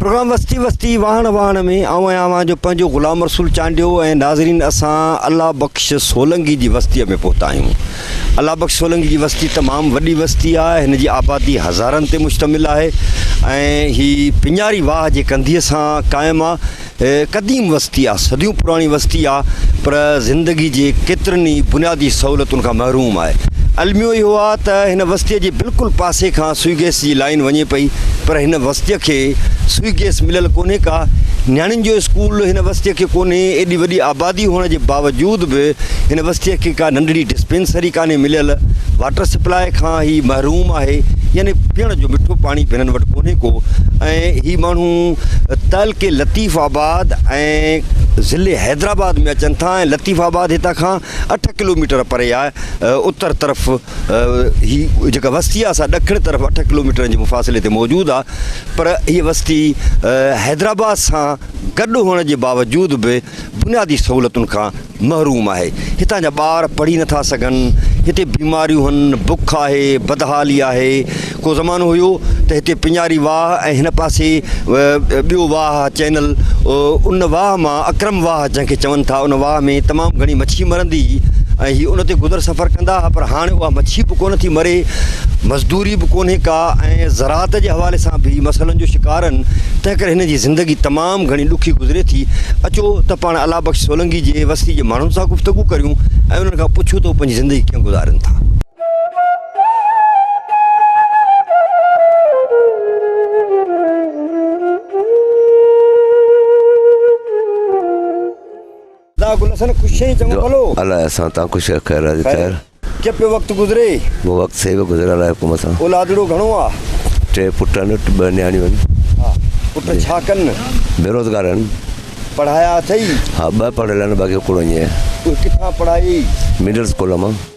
Programme وستي وستي واهڻ واهڻ ۾ آئون ۽ اوهان جو پنهنجو غلام رسول چانڊيو ۽ ناظرين اسان الله بخش سولنگي جي وستيء ۾ پهتا آهيون الله بخش سولنگي جي وستي تمام وڏي وستي آهي هن جي آبادي هزارن تي مشتمل آهي ۽ هي پڃاري واهه جي ڪنڌيء سان قائم آهي هيء قديم وستي آ، صديون پراڻي وستي آ، پر زندگي جي ڪيترين ئي بنيادي سهولتن کان محروم آهي. الميو اهو آ ته هن وستيء جي بلڪل پاسي کان سوئي گئس جي لائين وڃي پئي، پر هن وستيء کي سوئي گئس مليل ڪونهي ڪا نياڻين جو اسڪول هن وستيء کي ڪونهي، ايڏي وڏي آبادي هئڻ جي باوجود به هن وستيء کي ڪا ننڍڙي ڊسپينسري ڪانهي مليل، واٽر سپلاء کان هي محروم آهي، يعني پيئڻ جو مٺو پاڻي به هنن وٽ ڪونهي ڪو ۽ هي ماڻهو. تعلقي لطيف آباد ۽ ضلعي حيدرآباد ۾ اچن ٿا ۽ لطيف آباد هتان کان اٺ ڪلوميٽر پري آهي. اتر طرف هي جيڪا وستي آهي سا ڏکڻ طرف اٺ ڪلوميٽرن جي مفاصلي تي موجود آهي پر هيء وستي حيدرآباد سان گڏ هئڻ جي باوجود به بنيادي سهولتن کان محروم آهي، هتان جا ٻار پڙهي نٿا سگهن، هتي بيماريون هن، بک آهي، بدحالي آهي، ڪو زمانو هيو ته هتي پڃاري واهه ۽ هن پاسي ٻيو واهه چينل ان واهه مان اڪرم واهه جنهن کي چون ٿا ان واهه ۾ تمام گهڻي مڇي مرندي هئي ۽ هي ان تي گذر سفر ڪندا ها پر هاڻي اها مڇي به ڪونه ٿي مري مزدوري به ڪونهي ڪا ۽ زراعت جي حوالي سان به مسئلن جو شڪار هن تنهن ڪري هن جي زندگي تمام تمام گهڻي ڏکي گذري ٿي، اچو ته پاڻ الله بخش سولنگي جي وستي جي ماڻهن سان گفتگو ڪريون ۽ انهن کان پڇون ته هو پنهنجي زندگي ڪيئن گذارين ٿا. جو الاء اسان تان خوش آ خير راضي خير ڪي پيو وقت گذري مون وقت سي به گذريل آ حڪم سان اولادڙو گهڻو آ ٽي پٽ آن ٻه نياڻيون آن ها پٽ ڇا ڪن بيروزگار آن پڙهايا اٿئي ها ٻه پڙهيل آن باقي هڪڙو اڃي ڪٿان پڙهائي مڊل اسڪول مان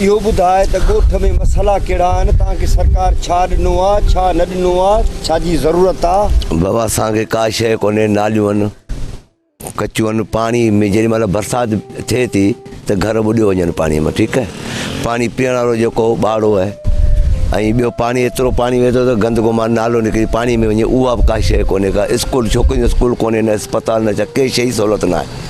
اهو ٻڌاء ته ڳوٺ ۾ مسئلا ڪهڙا آهن، تان کي سرڪار ڇا ڏنو آ، ڇا نه ڏنو آ، ڇا جي ضرورت آ. بابا اسان کي ڪا شيء ڪونهي، ناليون آهن ڪچيون آهن، پاڻي ۾ جيڏي مهل برسات ٿئي ٿي ته گهر ٻڏيو وڃن پاڻي مان ٺيڪ آهي، پاڻي پيئڻ وارو جيڪو هو ٻاڙو آهي ۽ ٻيو پاڻي ايترو پاڻي وهي ٿو ته گندگو مان نالو نڪري پاڻي ۾ وڃي اها به ڪا شيء ڪونهي ڪا اسڪول ڇوڪرين جو اسڪول ڪونهي نه اسپتال نه ڇا ڪي شيء جي سهولت نه آهي.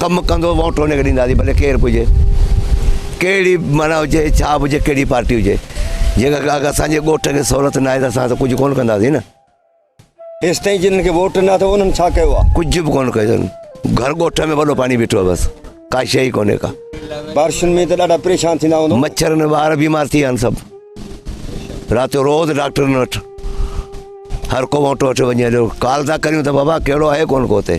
ڪم ڪندو ووٽ ان کي ڏينداسين ڀلي ڪير به هجي ڪهڙي به معنيٰ هجي ڇا به هجي ڪهڙي پارٽي هجي جيڪا اگر اسانجي ڳوٺ کي سهولت ناهي ته اسان ته ڪجهه ڪونه ڪنداسين نه ايستائين جنن کي ووٽ نه اٿو انهن ڇا ڪيو آهي. ڪجهه به ڪونه ڪيو اٿن گهر ڳوٺ ۾ وڏو پاڻي بيٺو آهي بس ڪا شيء ئي ڪونهي ڪا. بارشن ۾ ته ڏاڍا پريشان ٿيندا هوندو. مڇرن ۾ ٻار بيمار ٿي ويا آهن سڀ رات جو روز ڊاڪٽرن وٽ هر ڪو ووٽ وٺي وڃي هليو ڪال ٿا ڪريون ته بابا ڪهڙو آهي ڪونه ڪو هتي.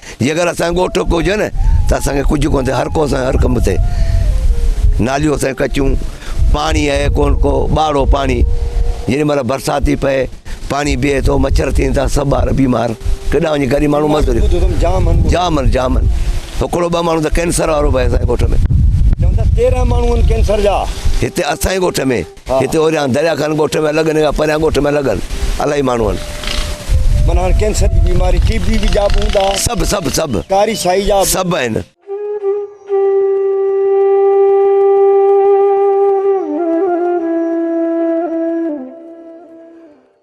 جي اگر اسان ڳوٺ ٽوڪ هجي نه ته اسان کي ڪجهه ڪونه ٿئي هر ڪو اسان هر ڪم تي ناليون اسان ڪچيون پاڻي آهي ڪونه ڪو ٻاڙو پاڻي جيڏي مهل برسات ٿي پئي پاڻي بيهي ٿو مڇر ٿين ٿا سڀ ٻار بيمار ڪيڏا وڃي غريب ماڻهو مزوري جام آهن جام آهن جام آهن هڪڙو ٻه ماڻهو ته ڪينسر وارو به اسان ڳوٺ ۾ چون ٿا تيرهن ماڻهو آهن ڪينسر جا هتي اسان ڳوٺ ۾ هتي اوريان دريا کان ڳوٺ ۾ الڳ نيگا پريان ڳوٺ ۾ الڳ هن الاهي ماڻهو هن. من هاڻ ڪينسر جي بيماري ٽي بي به جا به هوندا. سڀ سڀ سڀ. ڪاري سائي جا به. سڀ آهن.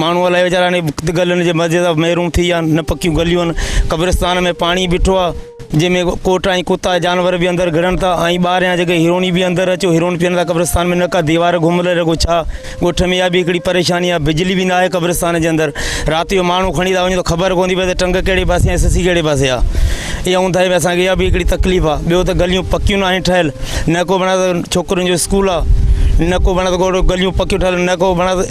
ماڻهو الائي ويچارا هاڻي گلن جي مزي سان ميرون ٿي ويا آهن نه پڪيون گليون آهن قبرستان ۾ پاڻي بيٺو آهي جنهن ۾ ڪوٽ ۽ ڪتا جانور به اندر گهڙن ٿا ۽ ٻاهريان جيڪي هرڻي به اندر اچو هرڻ پيئن ٿا قبرستان ۾ نه ڪا ديوار گهمل رڳو ڇا ڳوٺ ۾ اها به هڪڙي پريشاني آهي بجلي به ناهي قبرستان جي اندر رات جو ماڻهو کڻي ٿا وڃن ته خبر ڪونه ٿي پئي ته ٽنگ ڪهڙي پاسي ۽ سسي ڪهڙي پاسي آهي اها اونداهي ۾ اسانکي اها به هڪڙي تڪليف آهي ٻيو ته گليون پڪيون ناهن ٺهيل نه ڪو بڻايل ڇوڪرين جو اسڪول آهي نه ڪو بڻايل گليون پڪيون ٺهيل نه ڪو بڻايل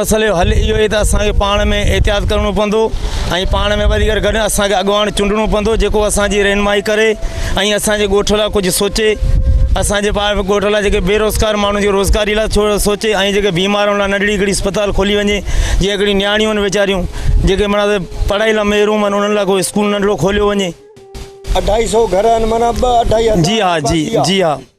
مسئلي جو حل اهو ئي ته اسان کي پاڻ ۾ احتياط ڪرڻو پوندو ۽ پاڻ ۾ وڌيڪ گڏ اسان کي اڳواڻ چونڊڻو پوندو جيڪو اسان جي رهنمائي ڪري ۽ اسان جي ڳوٺ لاء ڪجهه سوچي اسان جي ٻاهر ڳوٺ لاء جيڪي بيروزگار ماڻهو جي روزگاري لاء ٿورو سوچي ۽ جيڪي بيمارن لاء ننڍڙي هڪڙي اسپتال کولي وڃي جي هڪڙي نياڻيون آهن ويچاريون جيڪي منا ته پڙهائي لاء محروم آهن انهن لاء ڪو اسڪول ننڍڙو کوليو وڃي اڍائي سئو گهر آهن منا ٻه اڍائي هزار جي ها جي جي ها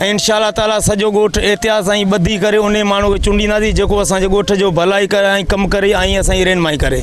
۽ انشاء الله تعالٰي سڄو ڳوٺ احتياط سان ھي ٻڌي ڪري انھي ماڻھو کي چونڊينداسين جيڪو اسان جي ڳوٺ جو ڀلائي ڪري ۽ ڪم ڪري ۽ اسان جي رھنمائي ڪري.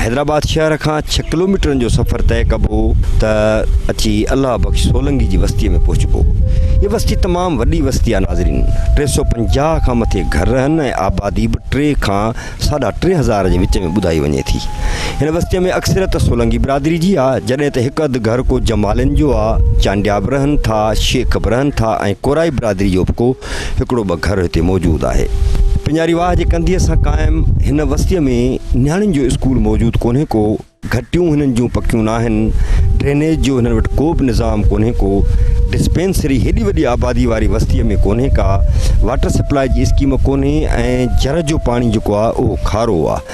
حيدرآباد شهر کان ڇهه ڪلوميٽرن جو سفر طئي ڪبو ته اچي الله بخش سولنگي جي وستيء ۾ پهچبو. هيء وستي تمام وڏي وستي آهي ناظرين. ٽي سؤ پنجاهه کان مٿي گهر آهن ۽ آبادي به ٽي کان ساڍا ٽي هزار جي وچ ۾ ٻڌائي وڃي ٿي. هن وستيء ۾ اڪثريت سولنگي برادري جي آهي، جڏهن ته هڪ اڌ گهر ڪو جمالين جو آهي، چانڊيا به رهن ٿا، شيخ به رهن ٿا ۽ ڪورائي برادري جو به ڪو هڪڙو ٻه گهر هتي موجود آهي. پڃاري واهه جي ڪنڌيء سان قائم هن وستيء ۾ نياڻين جو اسڪول موجود ڪونهي ڪو، گهٽيون هنن جون پڪيون ناهن، ڊرينيج جو هنن وٽ ڪوبه نظام ڪونهي ڪو، ڊسپينسري هيڏي وڏي آباديء واري وستيء ۾ ڪونهي ڪا، واٽر سپلاء جي اسڪيم ڪونهي ۽ جر جو پاڻي جيڪو آهي اهو کارو آهي.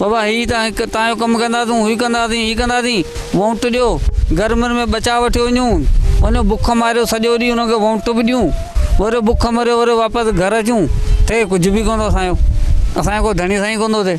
بابا هي تان هڪ تان جو ڪم ڪنداسون، هي ڪنداسين، هي ڪنداسين، وونٽ ڏيو، گرمين ۾ ٻچا وٺي وڃون، وڃو بک ماريو سڄو ڏينهن انهن کي وونٽ به ڏيون، وري بک مريو وري واپس گهر اچون، ٿئي ڪجهه به ڪونه ٿو اسان جو، اسان جو ڪو ڌڻي سائين ڪونه ٿو ٿئي.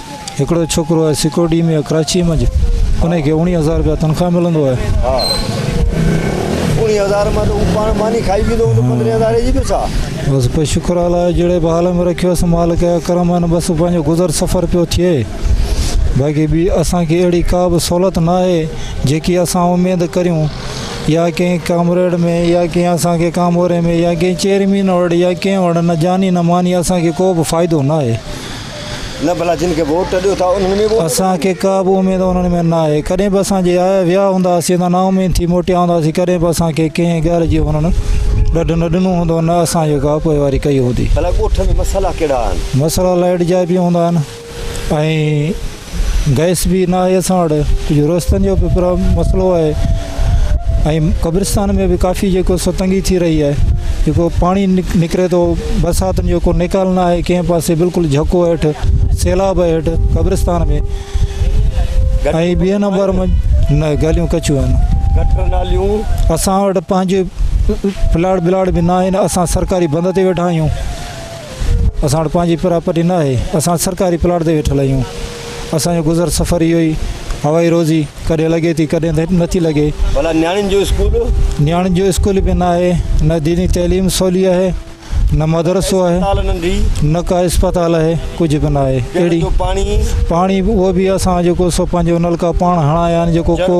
هڪڙو ڇوڪرو آهي سڪيورٽي ۾ ڪراچي منجھ انهي کي اوڻيهه هزار رپيا تنخواه ملندو آهي ها اوڻيهه هزار مان ته هو پاڻ ماني کائي ويندو هوندو پندرهين هزاري جي به ڇا بس پوء شڪر الله جو جهڙي به حال ۾ رکيو اسين مالڪ جا ڪرم آهن بس پنهنجو گذر سفر پيو ٿئي باقي ٻي اسان کي اهڙي ڪا به سهولت نه آهي جيڪي اسان اميد ڪريون يا ڪنهن ڪامريڊ ۾ يا ڪنهن اسان کي ڪاموري ۾ يا ڪنهن چيئرمين وٽ يا ڪنهن وٽ نه جاني نه ماني اسان کي ڪو به فائدو نه آهي نه ڀلا جن کي ووٽ ڏيو ٿا انهن ۾ به اسان کي ڪا به اميد انهن ۾ ناهي ڪڏهن به اسان جي آيا ويا هوندا اسين ته نا اميد ٿي موٽيا هونداسين ڪڏهن به اسان کي ڪنهن ڳالهه جي انهن ڏڍ نه ڏنو هوندو نه اسان جو ڪا پوئواري ڪئي هوندي ڀلا ڳوٺ ۾ مسئلا ڪهڙا آهن مسئلا لائيٽ جا به هوندا آهن ۽ گئس به نه آهي اسان وٽ ڪجهه روشن جو به مسئلو آهي ۽ قبرستان ۾ به ڪافي جيڪو ستنگي ٿي رهي آهي جيڪو پاڻي نڪري ٿو برساتن جو ڪو نيڪال نه آهي ڪنهن پاسي بلڪل جهڪو هيٺ سيلاب آهي هيٺ قبرستان ۾ ۽ ٻئي نمبر ۾ نه گليون ڪچيون آهن اسان وٽ پنهنجي پلاٽ بلاٽ به نه آهن اسان سرڪاري بند تي ويٺا آهيون اسان وٽ پنهنجي پراپرٽي نه آهي، اسان سرڪاري پلاٽ تي ويٺل آهيون، اسان جو گذر سفر اهو ئي هوائي روزي ڪڏهن لڳي ٿي ڪڏهن نه ٿي لڳي. ڀلا نياڻين جو اسڪول؟ نياڻين جو اسڪول به نه آهي، نه ديني تعليم سولي آهي، نه مدرسو آهي، نه ڪا اسپتال آهي، ڪجهه به نه آهي، اهڙي پاڻي به اهو به اسان جيڪو سو پنهنجو نلڪا پاڻ هڻايا آهن جيڪو ڪو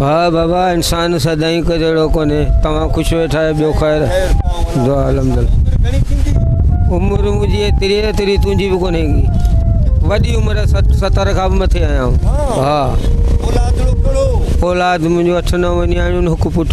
ها بابا انسان سدائين هڪ جهڙو ڪونهي توهان خوش ويٺا آهيو ٻيو خير دعا الحمد عمر منهنجي ايتري ايتري تنهنجي به ڪونهي وڏي عمر ستر کان به مٿي آهيان ها اولاد منهنجو اٺ نو نياڻيون هڪ پٽ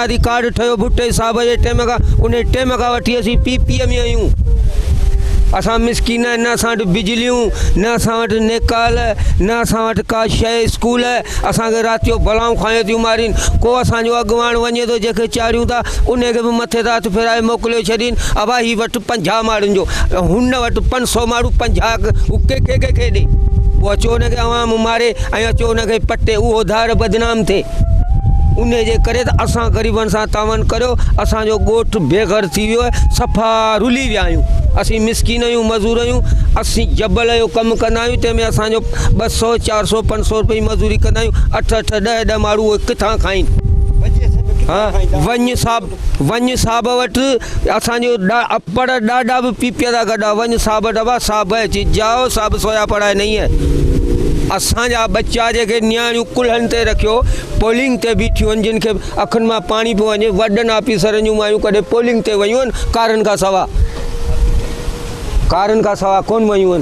بنيادي ڪارڊ ٺهيو ڀٽي صاحب جي ٽيم کان انهي ٽيم کان وٺي اسين پي پي ۾ آهيون اسان مسڪين آهن نه اسان وٽ بجليون نه اسان وٽ نيڪال نه اسان وٽ ڪا شيء اسڪول اسانکي رات جو بلائون کايو ٿيون مارين ڪو اسانجو اڳواڻ وڃي ٿو جنهنکي چاڙهيون ٿا انهي کي به مٿي تان هٿ ڦيرائي موڪليو ڇڏين ابا هي وٽ پنجاهه ماڙهن جو هن وٽ پنج سو ماڙهون پنجاهه هو ڪي کي ڪي کي ڏي پوء اچو هن کي عوام ماري ۽ اچو هن کي پٽي اهو ڌار بدنام ٿئي انهي جي ڪري ته اسان غريبن سان تعاون ڪريو اسان جو ڳوٺ بي گهر ٿي ويو آهي صفا رلي ويا آهيون اسين مسڪين آهيون مزور آهيون اسين جبل جو ڪم ڪندا آهيون تنهن ۾ اسان جو ٻه سؤ چار سؤ پنج سؤ رپئي مزوري ڪندا آهيون اٺ اٺ ڏهه ڏهه ماڻهو اهي ڪٿان کائين ونڃ صاحب وڃ صاحب وٽ اسان جو پڙ ڏاڏا به پيپيا دا گڏا وڃ صاحب ڊبا صاحب چي جاؤ صاحب سويا پڙائي نئي هي اسان جا بچا جي کي نياڻيون ڪلهن تي رکيو پولنگ تي بيٺيون جن کي اکن مان پاڻي پيو وڃي وڏن آفيسرن جون مايون ڪڏهن پولنگ تي ويون ڪارن کان سوا ڪارن کان سوا ڪون ويون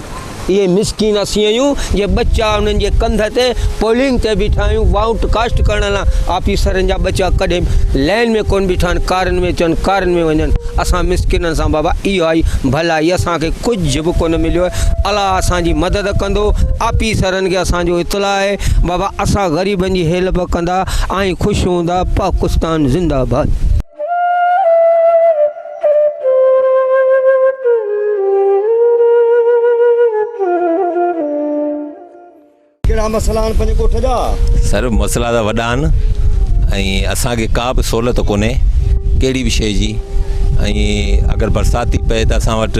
اهي مسڪين اسينئيون جي ٻچا انهن جي ڪنڌ تي پولنگ تي بيٺا آهيون وائوٽ ڪاسٽ ڪرڻ لا آفيسرن جا ٻچا ڪڏهن به لائين ۾ ڪون بيٺا آهن ڪارن ۾ اچن ڪارن ۾ وڃن اسان مسڪينن سان بابا اهائي ڀلائي اسان کي ڪجهه به ڪون مليو آهي الله اسان جي مدد ڪندو آفيسرن کي اسان جو اطلاع آهي بابا اسان غريبن جي هيلپ ڪندا آئين خوش هوندا پاڪستان زنده باد ڪهڙا مسئلا آهن پنهنجي ڳوٺ جا؟ سر مسئلا ته وڏا آهن ۽ اسانکي ڪا به سهولت ڪونهي ڪهڙي به شيء جي ۽ اگر برسات ٿي پئي ته اسان وٽ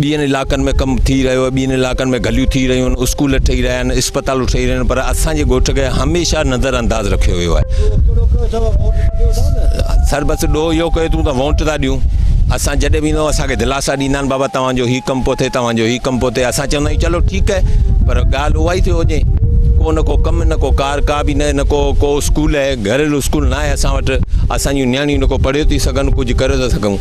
ٻين علائقن ۾ ڪم ٿي رهيو آهي، ٻين علائقن ۾ گليون ٿي رهيون آهن، اسڪول ٺهي رهيا آهن، اسپتالون ٺهي رهيون آهن پر اسان جي ڳوٺ کي هميشه نظر انداز رکيو ويو آهي. سر بس ڏوهه اهو ڪيو اٿئون ته وونٽ ٿا ڏيون، اسان جڏهن به ايندا آهيون اسان کي دلاسا ڏيندا آهن بابا توهان جو هي ڪم پيو ٿئي توهان جو هي ڪم پيو ٿئي اسان چوندا آهيون چلو ٺيڪ آهي پر ڳالهه اها ئي ٿيو وڃي ڪو نه ڪو ڪم نه ڪو ڪار ڪا به نه نه ڪو ڪو اسڪول آهي گهريلو اسڪول ناهي اسان وٽ اسان جون نياڻيون نه ڪو پڙهيو ٿي سگهن ڪجهه ڪريو ٿا سگهون.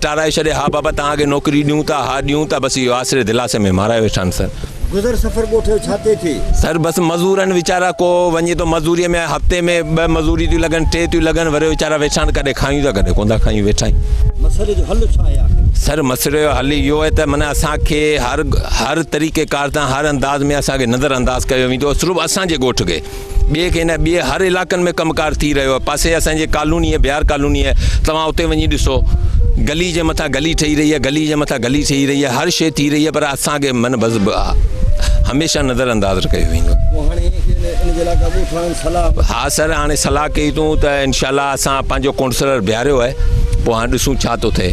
ٽارائي ڇڏي، ها بابا توهان کي نوڪري ڏيون ٿا، ها ڏيون ٿا، بس اهو آسري دلاسي ۾ مارائي ويٺا آهن سر. گذر سفر ڳوٺيو ڇا تي ٿئي. سر بس مزور آهن ويچارا ڪو وڃي ٿو مزوري ۾ هفتي ۾ ٻه مزوريون ٿيون لڳن ٽي ٿيون لڳن وري ويچارا ويٺا آهن ڪڏهن کايون ٿا ڪڏهن ڪونٿا کايون ويٺا آهيون. مسئلي جو حل ڇا آهي آخر. سر مسئلي جو حل اهو آهي ته معنيٰ اسان کي هر هر طريقي ڪار تان هر انداز ۾ اسان کي نظر انداز ڪيو ويندو سرف اسان جي ڳوٺ کي. ٻئي کي نه ٻئي هر علاقن ۾ ڪم ڪار ٿي رهيو آهي پاسي اسان جي ڪالوني بهار ڪالوني آهي توهان اتي وڃي ڏسو گلي جي مٿان گلي ٺهي رهي آهي گلي جي مٿان گلي ٺهي رهي آهي هر شيء ٿي رهي آهي پر اسان کي من بس هميشه نظر انداز ڪيو ويندو ها سر هاڻي صلاح ڪئي اٿون ته انشاء الله اسان پنهنجو ڪونسلر بيهاريو آهي پوء هاڻي ڏسون ڇا ٿو ٿئي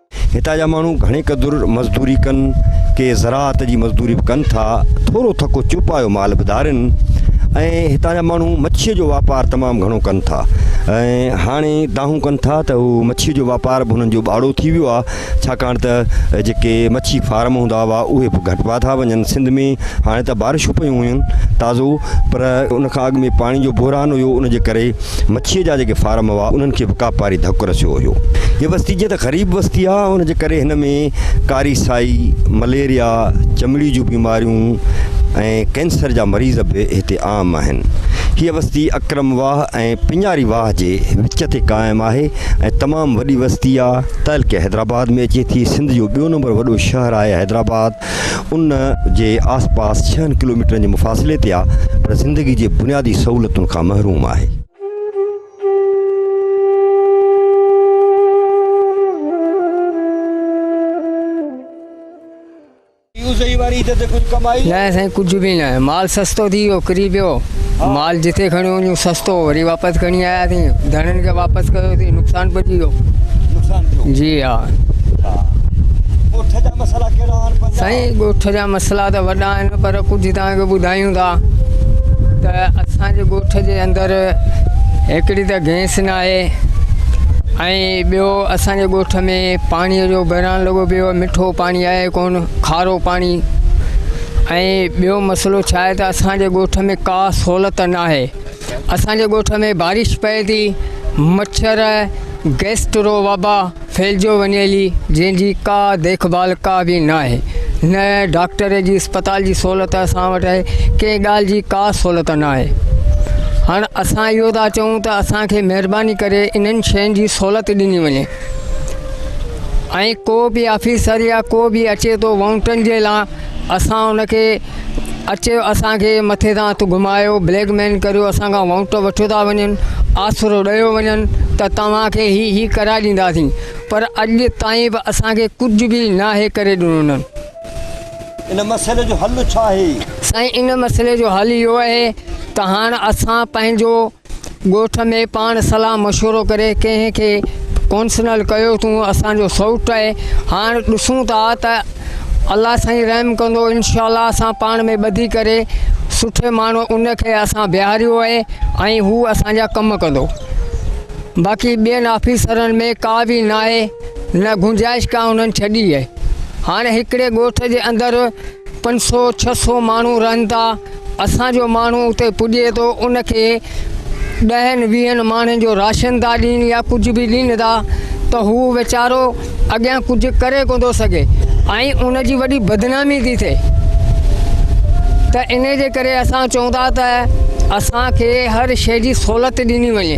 هتان جا ماڻهو گهڻي قدر مزدوري ڪن، ڪي زراعت جي مزدوري به ڪن ٿا، ٿورو ٿڪو چوپايو مال به ڌارين ۽ هتان جا ماڻهو مڇيء جو واپار تمام گهڻو ڪن ٿا ۽ هاڻي دانهون ڪن ٿا ته هو مڇيء جو واپار به هنن جو ٻاڙو ٿي ويو آهي ڇاڪاڻ ته جيڪي مڇي فارم هوندا هئا اهي به گهٽبا ٿا وڃن سنڌ ۾ هاڻي ته بارشون پيون هيون تازو پر ان کان اڳ ۾ پاڻي جو بحران هيو ان جي ڪري مڇيء جا جيڪي فارم هئا، انهن کي به ڪاپاري ڌڪ رسيو هيو. هيء وستي جيئن ته غريب وستي آهي، ان جي ڪري هن ۾ ڪاري سائي، مليريا، چمڙي جون بيماريون ۽ ڪينسر جا مريض به هتي عام آهن. هيء وستي اڪرم واهه ۽ پڃاري واهه جي وچ تي قائم آهي ۽ تمام وڏي وستي آهي. تعلقي حيدرآباد ۾ اچي ٿي. سنڌ جو ٻيو نمبر وڏو شهر آهي حيدرآباد. ان جي آس پاس ڇهن ڪلوميٽرن جي مفاصلي تي آ پر زندگي جي بنيادي سهولتن کان محروم آهي. نه سائين ڪجهه به نه مال سستو ٿي ويو ڪري پيو. مال جتي کڻيو وڃون سستو وري واپس کڻي آياسين ڌڻين کي واپس ڪيوسين نقصان پڄي ويو نقصان ٿيو جي ها ڳوٺ جا مسئلا ڪهڙا آهن سائين ڳوٺ جا مسئلا ته وڏا آهن پر ڪجهه توهان کي ٻڌايون ٿا ته اسان جي ڳوٺ جي اندر هڪڙي ته گئس نه آهي ۽ ٻيو اسان جي ڳوٺ ۾ پاڻي جو بحران لڳو پيو مٺو پاڻي آهي ڪون کارو پاڻي ۽ ٻيو مسئلو ڇا آهي ته اسان جي ڳوٺ ۾ ڪا سھولت ناهي اسان جي ڳوٺ ۾ بارش پئي ٿي مڇر گيسٽرو وبا ڦھلجيو وڃي ٿي جنھن جي ڪا ديک ڀال ڪا به ناهي نه ڊاڪٽر جي اسپتال جي سھولت اسان وٽ آهي ڪنھن ڳالھ جي ڪا سھولت ناهي ھاڻ اسان اھو ٿا چئون ته اسان کي مھرباني ڪري انھن شين جي سھولت ڏني وڃي ۽ ڪو به آفيسر يا ڪو به اچي ٿو ووٽن جي لا اسان ان کي اچي اسان کي مٿي تان هٿ گهمايو بليڪ مين ڪريو اسان کان ووٽ وٺيو ٿا وڃن آسرو ڏيو وڃن ته توهان کي هي هي ڪرائي ڏينداسين پر اڄ تائين به اسان کي ڪجهه به ناهي ڪري ڏنو انهن ان مسئلي جو حل ڇا آهي؟ سائين ان مسئلي جو حل اهو آهي ته هاڻ اسان پنهنجو ڳوٺ ۾ پاڻ صلاح مشورو ڪري ڪنهن کي ڪونسنل ڪيو تون اسان جو سئوٽ آهي هاڻ ڏسون ٿا ته الله سائين رحم ڪندو انشاء الله اسان پاڻ ۾ ٻڌي ڪري سٺي ماڻهو ان کي اسان بيهاريو آهي ۽ هو اسان جا ڪم ڪندو باقي ٻين آفيسرن ۾ ڪا به ناهي نه گنجائش ڪا انهن ڇڏي آهي هاڻ هڪڙي ڳوٺ جي اندر پنج سؤ ڇهه سؤ ماڻهو رهن ٿا اسان جو ماڻهو اتي پڄي ٿو ان کي ڏهن ويهن ماڻهن جو راشن ٿا ڏين يا ڪجهه به ڏين ٿا ته هو ويچارو اڳيان ڪجهه ڪري ڪو ٿو سگهي ۽ ان جي وڏي بدنامي ٿي ٿئي ته ان جي ڪري اسان چون ٿا ته اسان کي هر شيء جي سهولت ڏني وڃي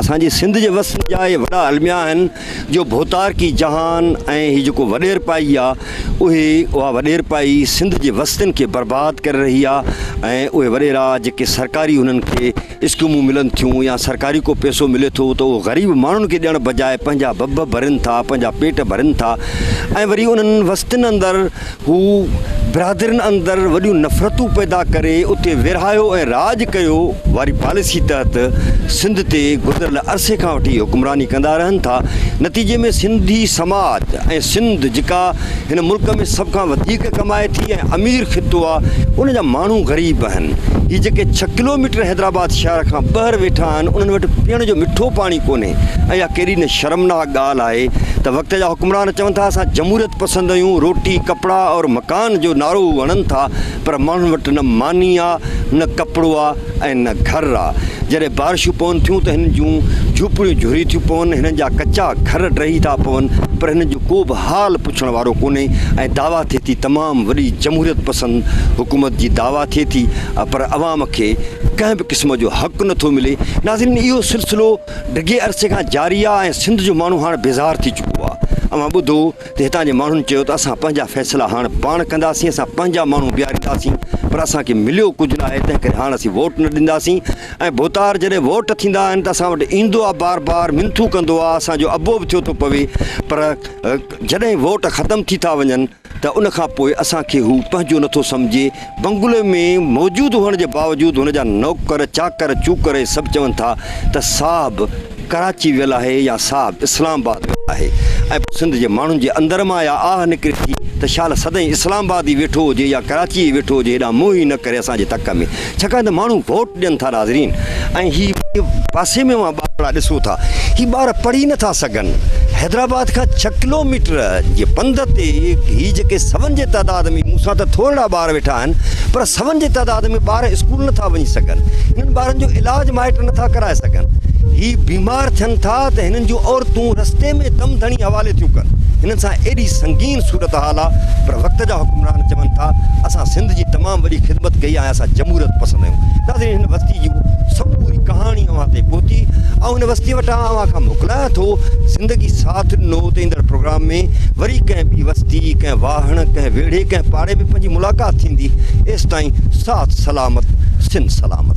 اسان جي سنڌ جي وس جا اهي وڏا الميا آهن جو ڀوتارڪي جهان ۽ هي جيڪو وڏيرپائي آ اهي اها وڏيرپائي سنڌ جي وستين کي برباد ڪري رهي آ ۽ اهي وڏيرا جيڪي سرڪاري انهن کي اسڪيمون ملن ٿيون يا سرڪاري ڪو پئسو ملي ٿو ته اهو غريب ماڻهن کي ڏيڻ بجاء پنهنجا ڀڀ ڀرين ٿا پنهنجا پيٽ ڀرين ٿا ۽ وري انهن وستين اندر هو برادرين اندر وڏيون نفرتون پيدا ڪري اتي ورهايو ۽ راڄ ڪيو واري پاليسي تحت سنڌ تي گذريل عرصي کان وٺي حڪمراني ڪندا رهن ٿا نتيجي ۾ سنڌي سماج ۽ سنڌ جيڪا هن ملڪ ۾ سڀ کان وڌيڪ ڪمائي ٿي ۽ امير خطو آ ان جا ماڻهو غريب آهن هي جيڪي ڇهه ڪلوميٽر حيدرآباد شهر کان ٻهر ويٺا آهن انهن وٽ پيئڻ جو مٺو پاڻي ڪونهي ۽ اها ڪيڏي نه شرمناڪ ڳالهه آهي ته وقت جا حڪمران چون ٿا اسان جمهوريت پسنديون، روٽي، ڪپڙا اور مڪان جو نعرو هڻن ٿا پر ماڻهن وٽ نه ماني آ، نه ڪپڙو آ ۽ نه گهر آ. جڏهن بارشون پون ٿيون ته هنن جون جهوپڙيون جهري ٿيون پون، هنن جا ڪچا گهر ڊهي ٿا پون پر هنن جو ڪو به حال پڇڻ وارو ڪونهي ۽ دعويٰ ٿئي ٿي تمام وڏي جمهوريت پسند حڪومت جي دعويٰ ٿئي ٿي پر عوام کي ڪنهن به قسم جو حق نٿو ملي. ناظرين اهو سلسلو. ڊگهي عرصي کان جاري آ ۽ سنڌ جو ماڻهو هاڻ بيزار ٿي چڪو آ. اوهان ٻڌو ته هتان جي ماڻهن چيو ته اسان پنهنجا فيصلا هاڻ پاڻ ڪنداسين، اسان پنهنجا ماڻهو بيهارينداسين پر اسان کي مليو ڪجهه ناهي تنهن ڪري هاڻ اسين ووٽ نه ڏينداسين ۽ ڀوتار جڏهن ووٽ ٿيندا آهن ته اسان وٽ ايندو آ بار بار منٿون ڪندو آ اسان جو ابو به ٿيو ٿو پوي پر جڏهن ووٽ ختم ٿي ٿا وڃن ته ان کان پوء اسان کي هو پنهنجو نٿو سمجهي. بنگلي ۾ موجود هئڻ جي باوجود هن جا نوڪر، چاڪر، چوڪر ۽ سڀ چون ٿا ته صاحب ڪراچي ويل آهي يا صاحب اسلام آباد ويل آهي ۽ پوء سنڌ جي ماڻهن جي اندر مان اها آهه نڪري ٿي ته شال سدائين اسلام آباد ئي ويٺو هجي يا ڪراچي ئي ويٺو هجي هيڏانهن منهن ئي نه ڪري اسان جي تڪ ۾. ڇاڪاڻ ته ماڻهو ووٽ ڏين ٿا ناظرين ۽ هي پاسي ۾ اوهان ٻارڙا ڏسو ٿا هي ٻار پڙهي نه ٿا سگهن حيدرآباد کان ڇهه ڪلو ميٽر جي پنڌ تي هي جيڪي سون جي تعداد ۾ مون سان ته ٿورڙا ٻار ويٺا آهن پر سون جي تعداد ۾ ٻار اسڪول نه ٿا وڃي سگهن هنن ٻارن جو علاج مائٽ نه ٿا ڪرائي سگهن هي بيمار ٿين ٿا ته هنن جون عورتون رستي ۾ دم ڌڻي حوالي ٿيون ڪن هنن سان ايڏي سنگين صورت تعاليٰ پر وقت جا حڪمران چون ٿا اسان سنڌ جي تمام وڏي خدمت ڪئي ۽ اسان جمهوريت پسند آهيون ناظرين هن وستي جي سموري ڪهاڻي اوهان تائين پهتي آئون هن وستي وٽان اوهان کان موڪلايان ٿو زندگي ساٿ ڏنو ته ايندڙ پروگرام ۾ وري ڪنهن ٻي وستي ڪنهن واهڻ ڪنهن ويڙهي ڪنهن پاڙي ۾ پنهنجي ملاقات ٿيندي ايستائين ساٿ سلامت سنڌ سلامت.